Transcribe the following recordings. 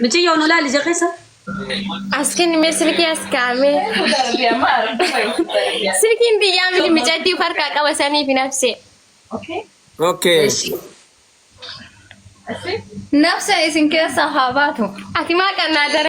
Micii yoo nu laali ija keessa. Askiin mee silkii as kaa'amee. Silkiin biyyaa miti micattii farkaa qaba saniif hin hafsee. Okay. Nafsa isin keessaa haa baatu. Ati maa qannaa dara.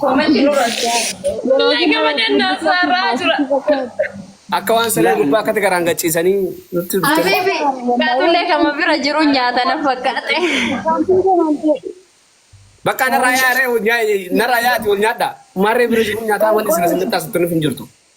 Koomenti nurra. Wallahi gama dandaa saarraa jira. Akka waan saree gubbaa akkatti garaan gachiisanii nutti dhufte. Habibi kaatullee kama bira jiru nyaata na fakkaate. Bakka narraa yaaree narraa yaati wal nyaadha. Maarree bira jiru nyaataa wanti isin isin qaqqaasutti nuuf hin jirtu.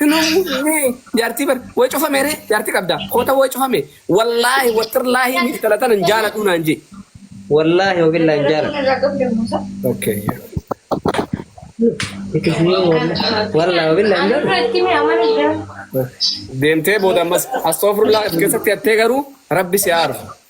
Hinummuunee jaartii bar way cufame ree jaartii qabda koota way cufame wallaahi wattirlaahi miif talatan hin jaaladhuu naan jee wallaahi wabillah hin jaaladhu okay itti fufee wallaahi wabillah hin jaaladhu deemtee booda ammas astoofurlaa keessatti hattee garuu rabbi si haa arfu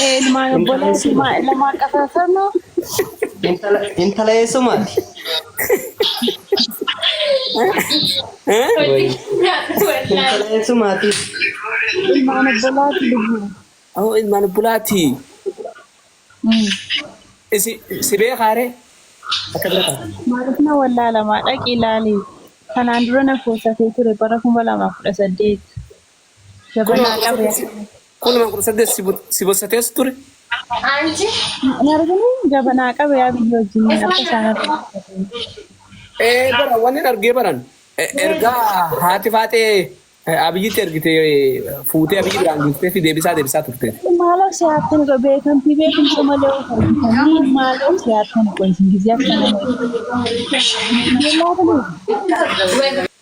Ilmaan obboleetti lama qafafamu. Intala eessumaati? Intala eessumaati? Ilmaan obbolaatti lubbu. Oh, ilmaan obbolaati. Isi si beekaare? Akka bira ta'a. Maaliif na wallaalamaa dhaqi ilaali. Kanaan dura na foosatee ture bara kuma lamaa kudha saddeet. Jabanaa ture akka. Kunuma kudha saddeet si bossatees ture. Hin argine jabanaa qabe yaa biyya wajjin akka isaan argine. Bara wanni argee baran ergaa haati faaxee abiyyitti ergite fuutee abiyyi biraan geessitee fi deebisaa deebisaa turte. Maaloo si haattan irra beekamtii beekumsa malee of argitanii maaloo si haattan qoysin gizee akka nama.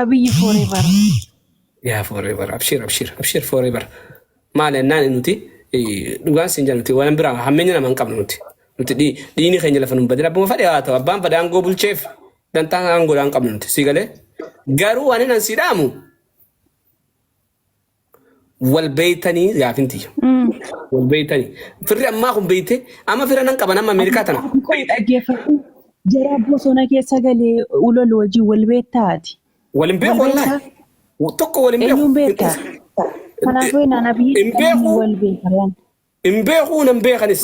Abiyyi forever. Yaa forever abshir abshir abshir forever. Maal ennaan nuti eh, dhugaan siin jedhan nuti waan biraa hammeenya nama hin qabnu nuti. Nuti dhi- dhiini keenya lafa nun badin abbuma fadhe haa ta'u abbaan fadhe aangoo bulcheef dantaa aangoodhaa hin qabnu nuti sii galee. Garuu waan inni siidhaamu wal beeytanii gaafin tiyya. Wal beeytanii. Firri ammaa kun beeyte amma fira nan qaban amma Ameerikaa tana. Ati koo dhaggeeffadhu. Jaraa bosona keessa galee ulol wajjin wal beektaati. Wal hin beeku Wal wallaahi. beektaa? Tokko wal hin beeku. Eenyuun beektaa? Kanaafuu inaan abiyyi Hin beeku. wal beekaraan. Hin beekuu nan beekanis.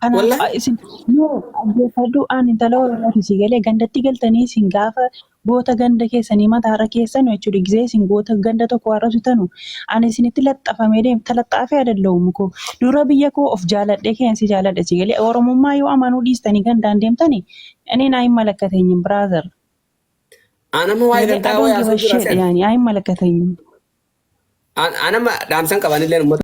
Kanaaf Wallahi. a- isin yoo dhaggeeffadhu aan intala Oromooti si galee gandatti galtanii isin gaafa goota ganda keessanii mataarra keessanu jechuudha gisee isin goota ganda tokko arrabsitanu ani isinitti laxxafamee deem talaxxaafee adalla'u mukoo dura biyya koo of jaaladhee keen si jaaladhe si galee Oromummaa yoo amanuu dhiistanii gandaan deemtani ani naa hin malakkatenyin brother Aan amma waa'ee galee gantaa adoon waa'ee haasoo jira gibasheedha seen. yaani aa hin malakkatenyin Aan aan amma dhaamsan qabanillee uummata.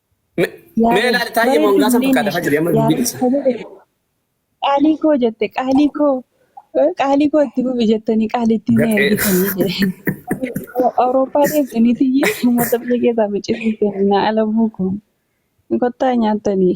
Mee ilaali taa'ee moongaasa bakka dafa jiri amma dubbii dhisa. Qaalii koo jette qaalii koo qaalii koo itti fufi jettanii qaalii itti na ergitanii Awurooppaa deemtanii tiyya uummata biyya keessaa biqiltuu kennaa ala buuku kottaa nyaattanii.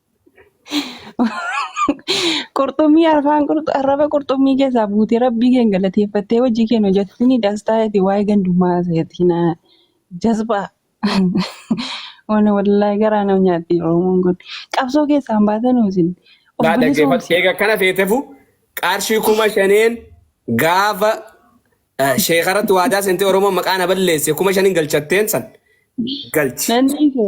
Qurxummii arfaan qurxu- arraba qurxummii keessaa buutee rabbii keen galateeffattee hojii keen hojjettini dastaa eti waa'ee gandummaa seetii na jazbaa. Waan wallaahi garaa nama nyaatti Oromoon kun. Qabsoo keessaan baatanuu isin of Naa dhaggeeffadhu. bilisoomse. Egaa kana feetefu qarshii kuma shaneen gaafa eh, sheekaratti waadaa seentee Oromoon maqaa na balleesse kuma shaniin galchatteen san galchi. Nan dhiise.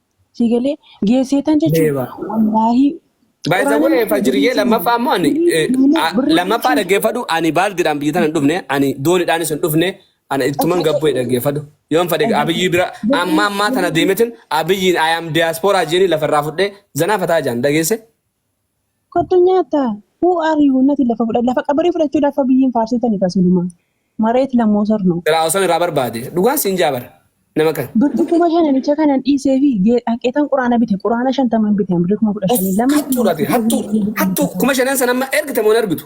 sii galee geesseetan jechuun Beeba. wallaahii By the way, Fajriyyee lammaffaa immoo ani eh, a- lammaffaa dhaggeeffadhu ani baaldiidhaan biyya tana hin dhufne ani dooniidhaanis hin dhufne ana ittuman gabbee dhaggeeffadhu yoon fedhe abiyyii bira amma ammaa tana deemetin abiyyiin ayaam diyaaspooraa jeeni lafarraa fudhee zanaa fataa jaan dhageesse Kottu nyaata. Who are you? Nati lafa fudha. Lafa qabarii fudhachuu lafa biyyiin faarsitani kasiluma. Mareet lammoo sarno. Siraa oson iraa barbaade dhugaan siin jaa bar nama kan. Birri kuma shananicha kanan dhiiseefi dhaqeetan quraana bite quraana shantaman bite birri kuma kudha Of shanii lamni hattuudha ati hattuu hattuu kuma shanan san amma ergite moo hin ergitu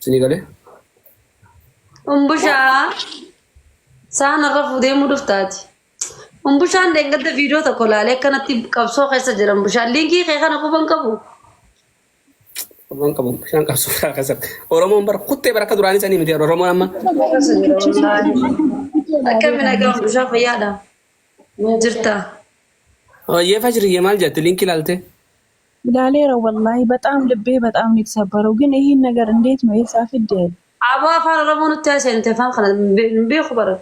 Isinii galee? Umbushaa saan irra fuudhee muu dhuftaati. Umbushaan deengadda viidiyoo tokko laalee akkanatti qabsoo keessa jira umbushaan. Liinkii kee kana quban qabu. Waan qabu bishaan qabsoo biraa keessatti. Oromoon bara kuttee bara akka duraanii sanii miti Oromoon amma. Akkamiin nagaa umbushaa fayyaadha. Jirta. Hoyyee fajriyyee maal jette liinkii laaltee? Ilaaleera wallaahi baxaam libbee baxaam nitsabarau gin ihiin nagar indeet nu eessaa fidde. Aboo afaan oromoo nutti haasa'e nuti afaan kana hin beeku bara.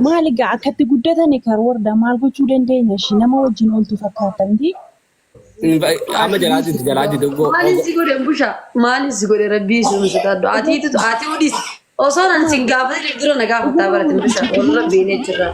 Maali gaa akkatti guddatani karwarda maal gochuu dandeenya ishii nama wajjin ooltu fakkaatta miti. Amma jalaa jirti jalaa jirti oggoo. Maaliin si godhe busha maaliin si godhe rabbii sun sodaadhu atiitu ati odis osoo nan sin gaafate dura na gaafataa baratin busha wal rabbiin jechirraa.